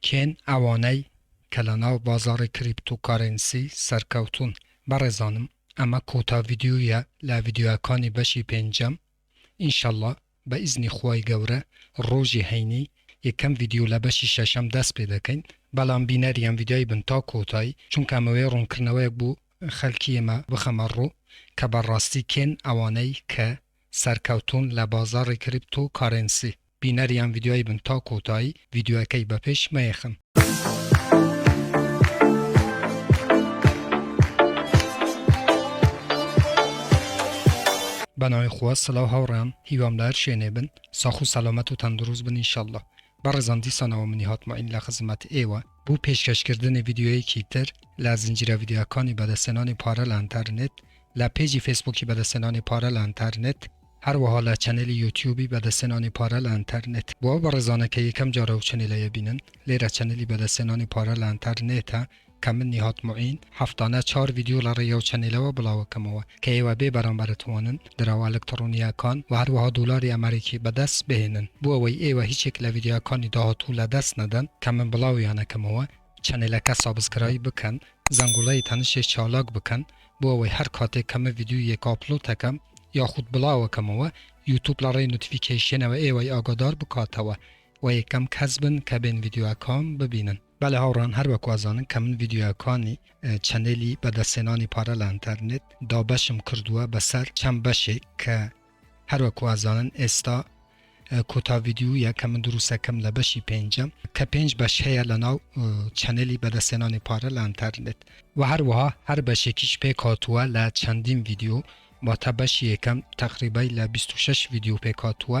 کێن ئەوانەی کە لەناو بازاڕی کریپتو کارێنسی سەرکەوتوون بەڕێزانم ئەمە کۆتا ڤیدیۆیە لە ڤیدیۆیەکانی بەشی پێنجەم ئینشەڵا بە ئیزنی خوای گەورە ڕۆژی هەینی یەکەم ڤیدیۆ لە بەشی شەشەم دەست پێ دەکەین بەڵام بینەری ئەم ڤیدیۆی بن تا کۆتایی چونکە ئەمەوێ ڕوونکردنەوەیەک بۆ خەلکی ئێمە بخەمە ڕوو کە بەڕاستی کێن ئەوانەی کە سەرکەوتوون لە بازاڕی کریپتو کارێنسی. بینەری ئەم ڤیدیۆیە بن تا کۆتایی ڤیدیۆیەکەی بە پێش مەیەخن. بە ناوی خوا سلاو هاوڕێیان هیوام لە هەر شوێنێ بن ساخ و سەلامەت و تەندروست بن انشاللە بەڕێزان دیسانەوە منی هاتمەین لە خزمەت ئێوە بۆ پێشکەشکردنی ڤیدیۆیەکی تر لە زنجیرە ڤیدیۆکانی بەدەستێنانی پارە لە ئەنتەرنێت لە پێجی فەیسبووکی بەدەستێنانی پارە لە ئەنتەرنێت هەروەها لە چەنێلی یوتیوبی بەدەستهێنانی پارە لە ئەنتەر نێت بۆ ئەو بەڕێزانە کە یەکەم جارە ئەو چەنێلە یەبینن لێرە چەنێلی بەدەستهێنانی پارە لە ئەنتەر نێتە کە من نیهاد موعین هەفتانە چوار ڤیدیۆ لە ڕێی ئەو چەنێلەوە بڵاوەکەمەوە کە ئێوە بێ بەرامبەر ئەتوانن دراوە ئەلکتڕۆنییەکان وە هەروەها دۆلاری ئەمەریکی بەدەست بهێنن بۆ ئەوەی ئێوە هیچێک لە ڤیدیۆکانی داهاتوو لە دەست نەدەن کە من بڵاویان ئەکەمەوە چەنێلەکە سابسکرایب بکەن زەنگوڵەی تەنشێ چالاک بکەن بۆ ئەوەی هەر کاتێک کە من ڤیدیۆیەک ئاپلۆد ئەکەم یاخود بڵاو ئەکەمەوە یوتوب لە ڕێی نۆتیفیکەیشنەوە ئێوەی ئاگادار بکاتەوە وە یەکەم کەس بن کە بێن ڤیدیۆکام ببینن. بەلێ هاوڕێیان هەر وەکو ئەزانن کە من ڤیدیۆکانی چەنێلی بەدەستهێنانی پارە لە ئینتەرنێت دابەشم کردووە بەسەر چەند بەشێک کە. هەروەک وازانن ئێستا کۆتا ڤیدیویە کە من دروستەکەم لە بەشی پێنجەم کە پێنج بەش هەیە لەناو چەنێلی بەدەستێنانی پارە لە ئەنتەرنێت وە هەروەها هەر بەشێکیش پێکهاتووە لە چەندین ڤیدیو واتە بەشی یەکەم تەقریبای لە بیست و شەش ڤیدیو پێکهاتووە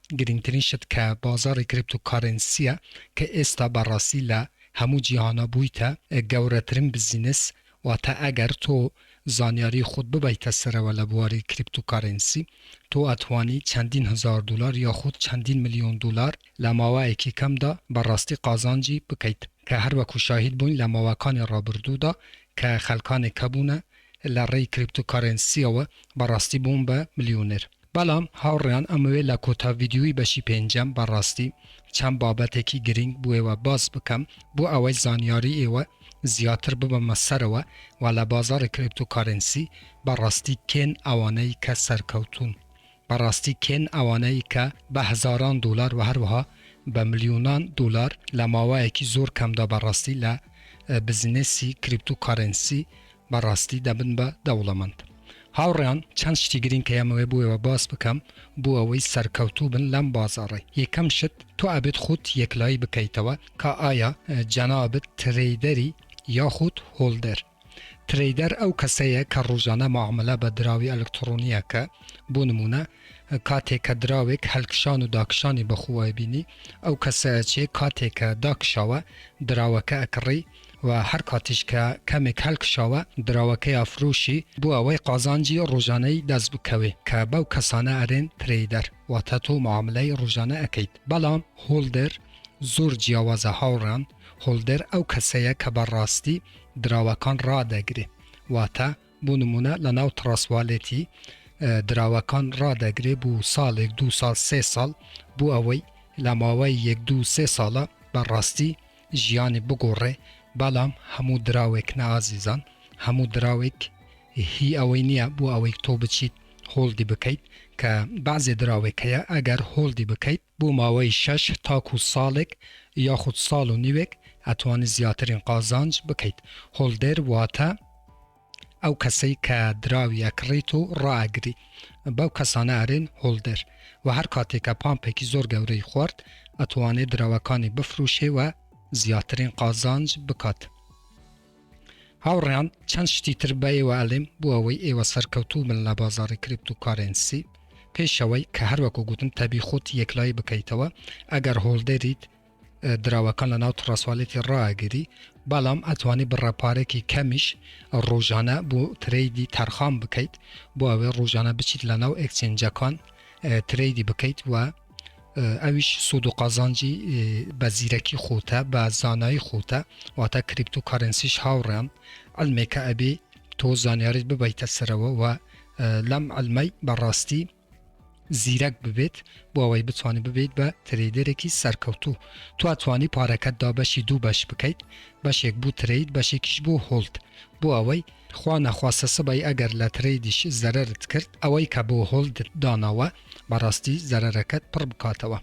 گرنگترین شت کە بازاڕی کریپتۆ کارێنسییە کە ئێستا بە ڕاستی لە هەموو جیهانا بوویتە گەورەترین بزینس، واتە ئەگەر تۆ زانیاری خۆت ببەیتە سەرەوە لە بواری کریپتۆ کارێنسی تۆ ئەتوانی چەندین هەزار دۆلار یاخود چەندین ملیۆن دۆلار لە ماوەیەکی کەمدا بە ڕاستی قازانجی بکەیت کە هەر وەکو شاهید بووین لە ماوەکانی ڕابردوودا کە خەلکانێک هەبوونە لە ڕێی کریپتۆ کارێنسییەوە بە ڕاستی بوون بە ملیۆنێر. بەڵام هاوڕێیان ئەمەوێ لە کۆتا ڤیدیۆی بەشی پێنجەم بەڕاستی چەند بابەتێکی گرینگ بۆ ئێوە باس بکەم بۆ ئەوەی زانیاری ئێوە زیاتر ببەمە سەرەوە و لە بازاڕی کریپتۆ کارێنسی بەڕاستی کێن ئەوانەی کە سەرکەوتوون بەڕاستی کێن ئەوانەی کە بە هەزاران دۆلار و هەروەها بە ملیۆنان دۆلار لە ماوەیەکی زۆر کەمدا بەڕاستی لە بزنسی کریپتۆ کارێنسی بەڕاستی دەبن بە دەوڵەمەند. هاوڕێیان چەند شتی گرینگ کە ئێمەوێ بۆێوە باس بکەم بۆ ئەوەی سەرکەوتوو بن لەم بازاڕەی یەکەم شت تۆ ئەبێت خۆت یەکلایی بکەیتەوە کە ئایا جەنابت ترەیدەری یاخود هۆڵدەر ترەیدەر ئەو کەسەیە کە ڕۆژانە مەعامەلە بە دراوی ئەلکتڕۆنی ئەکە بۆ نموونە کاتێک کە دراوێک هەلکشان و داکشانی بەخۆوە ئەبینی ئەو کەسە ئەچێ کاتێک کە داکشاوە دراوەکە ئەکڕی و هەر کاتیش کە کەمێک هەلکشاوە دراوەکەی ئەفرۆشی بۆ ئەوەی قازانجی رۆژانەی دەست بکەوێ کە بەو کەسانە ئەرێن ترەیدەر واتە تۆ معاملەی رۆژانە ئەکەیت بەڵام هۆڵدەر زۆر جیاوازە هاوڕێان هۆڵدەر ئەو کەسەیە کە بە راستی دراوەکان رادەگرێ واتە بۆ نمونە لە ناو تڕەست والێتی دراوەکان رادەگرێ بۆ ساڵێک دوو ساڵ سێ ساڵ بۆ ئەوەی لە ماوەی یەک دوو سێ ساڵە بە راستی ژیانی بگۆڕێ بەڵام هەموو دراوێک نا ئازیزان هەموو دراوێک هی ئەوەی نیە بۆ ئەوەی تۆ بچیت هۆڵدی بکەیت کە بەعزێ دراوێک هەیە ئەگەر هۆڵدی بکەیت بۆ ماوەی شەش تاکوو ساڵێک یاخود ساڵ و نیوێک ئەتوانی زیاترین قازانج بکەیت هۆڵدەر واتە ئەو کەسەی کە دراوی ئەکڕیت و ڕائەگری بەو کەسانە ئەرێن هۆڵدەر وە هەر کاتێ کە پامپێکی زۆر گەورەی خوارد ئەتوانێ دراوەکانی بفروشێ و زیاترین قازانج بکات هاوڕێیان چەند شتی تر بە ئێوە ئەلێم بۆ ئەوەی ئێوە سەرکەوتوو بن لە بازاری کریپتو کارێنسی پێشەوەی کە هەروەکو گوتم تەبی خۆت یەکلایی بکەیتەوە ئەگەر هۆڵدەریت دراوەکان لە ناو تڕەسوالێتی ڕا ئەگری بەڵام ئەتوانی بڕە پارێکی کەمیش ڕۆژانە بۆ ترەیدی تەرخان بکەیت بۆ ئەوێ ڕۆژانە بچیت لە ناو ئەکسێنجەکان ترەیدی بکەیت و ئەویش سوود و قازانجی بە زیرەکی خۆتە بە زانایی خۆتە واتە کریپت و کارنسیش هاوڕێن ئەلمێکە ئەبێ تۆ زانیاریت ببیتە سەرەوە و لەم ئەلمەی بەڕاستی زیرەک ببێت بۆ ئەوەی بتوانیت ببیت بە ترەیدەرێکی سەرکەوتوو توا توانی پارەکەت دا بەشی دوو بەش بکەیت بەشێک بوو ترەید بەشێکیش بوو هۆڵد بۆ ئەوەی خوا نەخواستە سبەی ئەگەر لە ترەیدیش زەرەرت کرد ئەوەی کە بۆ هۆڵدت داناوە بەڕاستی زەرەرەکەت پڕ بکاتەوە.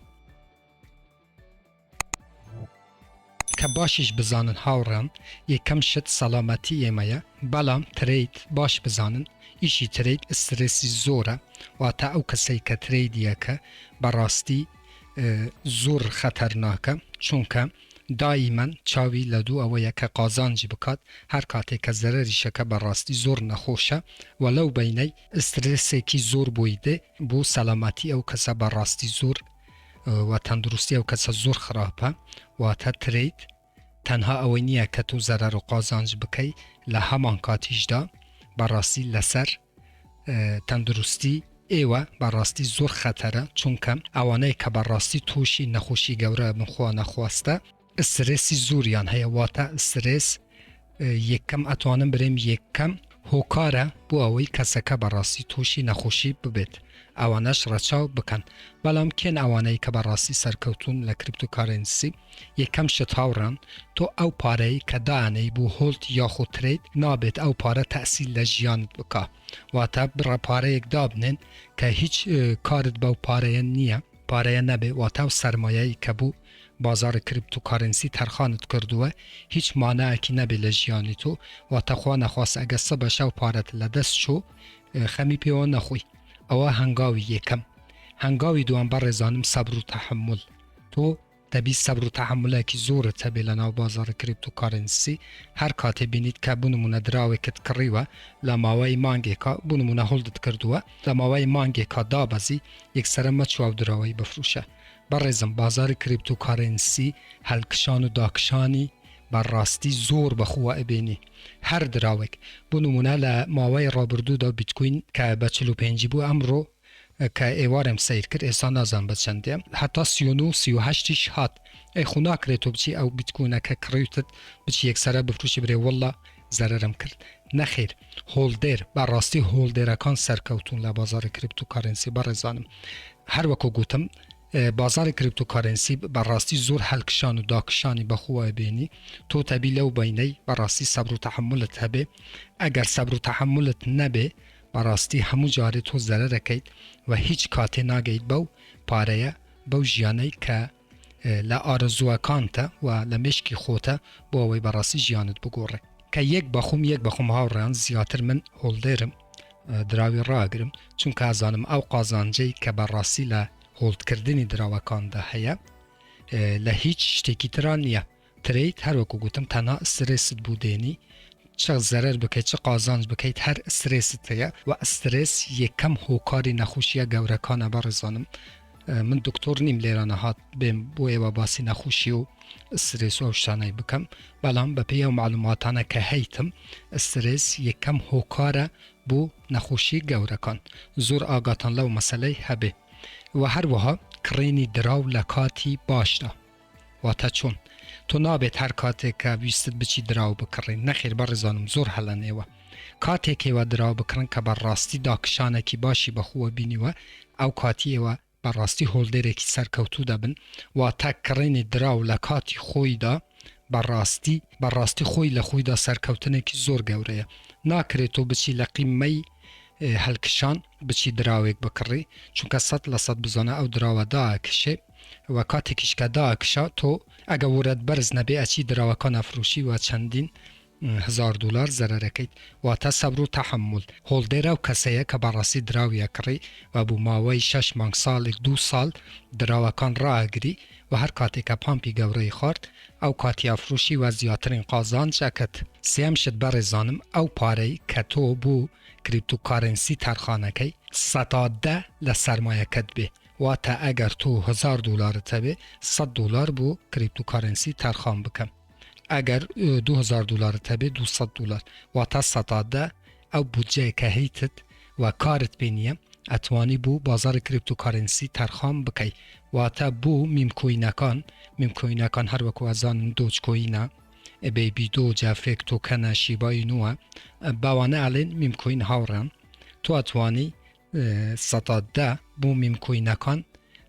کە باشیش بزانن هاوڕێان یەکەم شت سەڵامەتی ئێمەیە بەڵام ترەید باش بزانن ئیشی ترەید ئسترێسی زۆرە واتە ئەو کەسەی کە ترەیدیەکە بەڕاستی زۆر خەتەرناکە چونکە دائیمەن چاوی لە دوو ئەوەیە کە قازانجی بکات هەر کاتێک کە زەرریشەکە بەڕاستی زۆر نەخۆشە و لەو بینەی ئسترێسێکی زۆر بۆی دێ بۆ سەلامەتی ئەو کەسە بەڕاستی زۆر وە تەندروستی ئەو کەسە زۆر خراپە واتە ترید تەنها ئەوەی نییە کە تۆ زەرەر و قازانج بکەی لە هەمان کاتیشدا بەڕاستی لەسەر تەندروستی ئێوە بەڕاستی زۆر خەتەرە چونکە ئەوانەیە کە بەڕاستی تووشی نەخۆشی گەورە بنخوا نەخواستە ئسترێسی زۆریان هەیە واتە ئسترێس یەکەم ئەتوانم برێم یەکەم هۆکارە بۆ ئەوەی کەسەکە بەڕاستی تووشی نەخۆشی ببێت ئەوانەش ڕەچاو بکەن بەڵام کێن ئەوانەی کە بەڕاستی سەرکەوتون لە کریپت و کارنسی یەکەم شت هاوڕان تۆ ئەو پارەی کە دانەی بۆ هۆلت یاخۆ ترید نابێت ئەو پارە تەسیل لە ژیانت بک واتە بڕە پارەیەک دابنێن کە هیچ کارت بەو پارەیە نییە پارەیە نەبێ واتاو سەرمایەی کە بۆ بازاڕی کریپتو کارنسی تەرخانت کردووە هیچ ماناکی نەبێ لە ژیانی تۆ واتە خوا نەخواستە ئەگەر سبە شەو پارەت لە دەست چۆ خەمی پێوە نەخۆی ئەوە هەنگاوی یەکەم هەنگاوی دووەم بەڕێزانم سەبرو تەحەمول تۆ دەبی سەبر و تەحەمولێکی زۆرت هەبێ لە ناو بازاڕی کریپتۆ کارێنسی هەر کاتێ بینیت کە بۆ نموونە دراوێکت کڕیوە لە ماوەی مانگێکا بۆ نموونە هۆڵدت کردووە لە ماوەی مانگێکا دابەزی یەکسەرە مەچۆ ئەو دراوەی بفروشە بەڕێزم بازاری کریپتۆ کارێنسی هەلکشان و داکشانی بە ڕاستی زۆر بە خووە ئەبینی هەر دراوێک بۆ نموونە لە ماوەی ڕابردوودا بیتکۆین کە بە چل و پێنجی بوو ئەمڕۆ کە ئێوارێم سەیر کرد ئێستا نازانم بە چەندێ هەتا سی و نۆ و سی و هەشتیش هات ئەی خۆ ناکرێ تۆ بچی ئەو بیتکۆینە کە کڕیوتت بچی یەکسەرە بفروشی برێ واللە زەرەرم کرد نەخیر هۆڵدێر بە ڕاستی هۆڵدێرەکان سەرکەوتوون لە بازاری کریپتۆ کارێنسی بەڕێزانم هەر وەکو گوتم بازاری کریپتۆ کارێنسی بە ڕاستی زۆر هەلکشان و داکشانی بە خۆوە ئەبێنی تۆ تەبی لەو بەینەی بە ڕاستی سەبر و تەحەمولت هەبێ ئەگەر سەبر و تەحەمولت نەبێ بەڕاستی هەموو جارێ تۆ زەرەرەکەیت و هیچ کاتێ ناگەیت بەو پارەیە بەو ژیانەی کە لە ئارەزووەکانتە و لە مێشکی خۆتە بۆ ئەوەی بەڕاستی ژیانت بگۆڕێ کە یەک بەخۆم یەک بەخۆم هاوڕێیان زیاتر من هۆڵدێرم دراوی ڕاگرم چونکە ئازانم ئەو قازانجەی کە بەڕاستی لە هۆڵدکردنی دراوەکاندا هەیە لە هیچ شتێکی تران نییە ترەید هەر وەکو گوتم تەنها سترێست بو دێنی چ زەرەر بکەیت چ قازانج بکەیت هەر سترێست هەیە وە سترێس یەکەم هۆکاری نەخوشیە گەورەکانە بەڕێزانم من دکتۆر نیم لێرە نەهات بێم بۆ ئێوە باسی نەخوشی و سترێس و شتانەی بکەم بەڵام بە پێی ئەو معلوماتانە کە هەیتم سترێس یەکەم هۆکارە بۆ نەخوشی گەورەکان زۆر ئاگاتان لەو مەسلەی هەبێ و هەروەها کڕینی دراو لە کاتی باشدا واتا چۆن؟ تۆ نابێت هەر کاتێک کە ویستت بچیت دراو بکڕی؟ نەخێر بەڕێزانم زۆر هەلەن ئێوە کاتێک ئێوە دراو بکڕن کە بە ڕاستی داکشانەکی باشی بەخۆوە بینیوە ئەو کاتی ئێوە بە ڕاستی هۆڵدێرێکی سەرکەوتوو دەبن واتا کڕینی دراو لە کاتی خۆیدا بە ڕاستی بە ڕاستی خۆی لە خۆیدا سەرکەوتنێکی زۆر گەورەیە ناکرێت تۆ بچی لە قیممەی هەلکشان بچی دراوێک بکڕی چونکە سەد لە سەد بزانە ئەو دراوە داکشێ و کاتێکیش کە دائەکشا تۆ ئەگە وورەت بەرز نەبێ ئەچی دراوەکان ئەفروشی و چەندین هەزار دولار زەرەر ئەکەیت واتە سەبر و تەحەمول هۆڵدەر ئەو کەسەیە کە بەڕاستی دراوی ئەکڕی و بۆ ماوەی شەش مانگ ساڵێک دوو ساڵ دراوەکان ڕائەگری و هەر کاتێک کە پامپی گەورەی خوارد ئەو کاتی ئەفروشی و زیاترین قازانج ئەکرد. سێیەم شت بەڕێزانم ئەو پارەی کە تۆ بۆ کریپتو کارێنسی تەرخان ئەکەی سەتا دە لە سەرمایەکەت بێ واتە ئەگەر تۆ هەزار دۆلارت هەبێ سەد دۆلار بۆ کریپتو کارەنسی تەرخان بکەم ئەگەر دو هەزار دۆلارت هەبێ دو سەد دۆلار واتە سەتا دە ئەو بودجەیە کە هەیتت و کارت پێ نییە ئەتوانی بۆ بازاری کریپتو کارەنسی تەرخان بکەی واتە بۆ میم کۆینەکان میم کۆینەکان هەر وەکو ئەزانن دۆج کۆینە بەیبی دۆجە فێک تۆکەنە شیبای نووە باوانە ئەلێن میم کۆین هاوڕێم تۆ ئەتوانی سەتا دە بۆ میم کوینەکان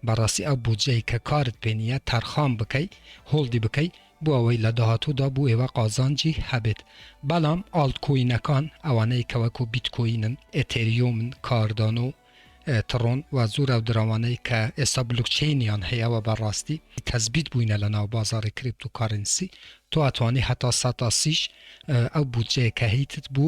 بەڕاستی ئەو بودجەی کە کارت پێ نییە تەرخان بکەی هۆڵدی بکەی بۆ ئەوەی لە داهاتوودا بۆ ئێوە قازانجی هەبێت بەڵام ئاڵت کوینەکان ئەوانەی کە وەکو بیت کوینن ئێتێریۆمن کاردانۆ تڕۆن و زۆر ئەو دراوانەی کە ئێستا بلوکچەینیان هەیە و بەڕاستی تەزبیت بووینە لە ناو بازاری کریپتو کارنسی تۆ ئەتوانی هەتا سەتا سیش ئەو بودجەیە کە هەیتت بۆ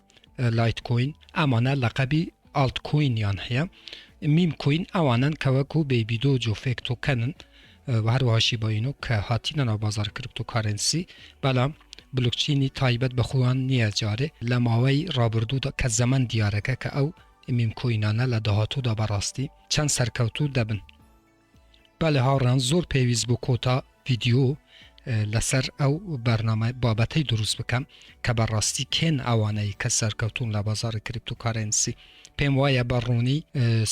لایت کۆین ئەمانە لەقەبی ئاڵت کۆینیان هەیە میم کۆین ئەوانەن کە وەکو بەیبی دۆج و فێک تۆکەنن و هەروەها شیباینۆ کە هاتینە ناو بازار کریپتۆکارەنسی بەڵام بلوکچینی تایبەت بە خۆیان نییە جارێ لە ماوەی ڕابردوودا کە زەمەن دیارەکە کە ئەو میم کۆینانە لە داهاتوودا بەڕاستی چەند سەرکەوتوو دەبن بەلێ هاوڕێیان زۆر پێویست بوو کۆتا ڤیدیۆ لەسەر ئەو بەرنامە بابەتەی دروست بکەم کە بەڕاستی کێن ئەوانەی کە سەرکەوتون لە بازاری کریپت و کارەنسی پێم وایە بە ڕوونی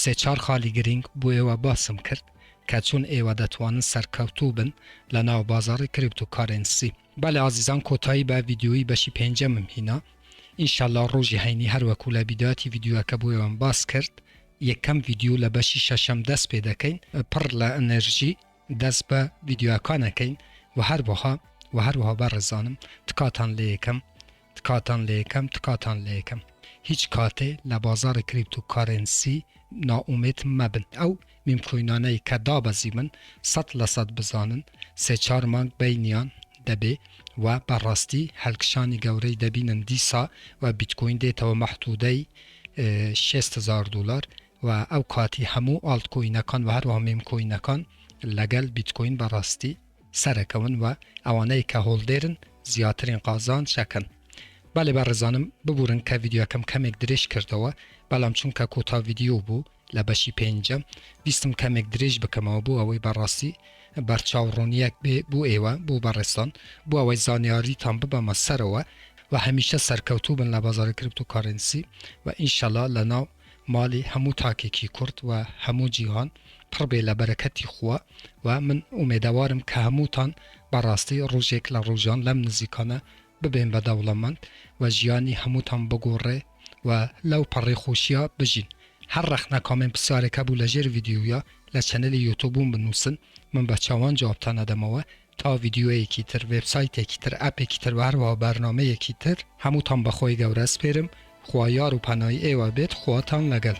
سێچار خالی گرنگ بۆ ئێوە باسم کرد کە چون ئێوە دەتوانن سەرکەوتوو بن لە ناو بازاری کریپت و کارەنسی بەڵێ ئازیزان کۆتایی بە ڤیدیۆیی بەشی پێنجەمم هینا ان شاء اللە ڕۆژی هەینی هەر وەکو لە بیداتی ڤیدیۆکە بۆ ئێوەم باس کرد یەکەم ڤیدیۆ لە بەشی شەشەم دەست پێ دەکەین پڕ لە ئەنەرژی دەست بە ڤیدیۆکانەکەین و هەروەها و هەروەها بەڕێزانم تکاتان لە یەکەم تکاتان لە یەکەم تکاتان لە یەکەم هیچ کاتێ لە بازاڕی کریپتو کارێنسی نائومێد مەبن ئەو میم کوینانەی کە دابەزیبن سەد لە سەد بزانن سێ چار مانگ بەینیان دەبێ و بە ڕاستی هەلکشانی گەورەی دەبینن دیسا و بیتکوین دێتەوە مەحتودەی شێست هەزار دولار و ئەو کاتی هەموو ئاڵت کوینەکان و هەروەها میم کوینەکان لەگەل بیتکوین بە ڕاستی سەرەکەون وە ئەوانەی کە هۆڵدێرن زیاترین قازانج ئەکەن بەڵێ بەڕێزانم ببورن کە ڤیدیۆکەم کەمێک درێژ کردەوە بەڵام چونکە کۆتا ڤیدیۆ بوو لە بەشی پێنجەم ویستم کەمێک درێژ بکەمەوە بۆ ئەوەی بەڕاستی بەرچاو ڕوونیەک بێ بۆ ئێوە بۆ بەڕێزان بۆ ئەوەی زانیاریتان ببەمە سەرەوە وە هەمیشە سەرکەوتوو بن لە بازاڕی کریپتۆکارێنسی وە ئینشەڵا لە ناو ماڵی هەموو تاکێکی کورد و هەموو جیهان پڕ بێ لە بەرەکەتی خوا و من ئومێدەوارم کە هەمووتان بە ڕاستی ڕوژێک لە ڕوژان لەم نزیکانە ببێن بە دەوڵەمەند و ژیانی هەمووتان بگۆڕێ و لەو پەڕی خۆشیا بژین هەر ڕەخنە کامێن پسیارێک هەبوو لە ژێر ڤیدیویا لە چەنێلی یوتوبوم بنوسن من بە چاوان جوابتان ئەدەمەوە تا ڤیدیۆیەکی تر وێبسایتێکی تر ئەپێکی تر وە هەروەها بەرنامەیەکی تر هەمووتان بە خۆی گەورە ئەسپێرم خوا یار و پەنای ئێوە بێت خواتان لەگەل.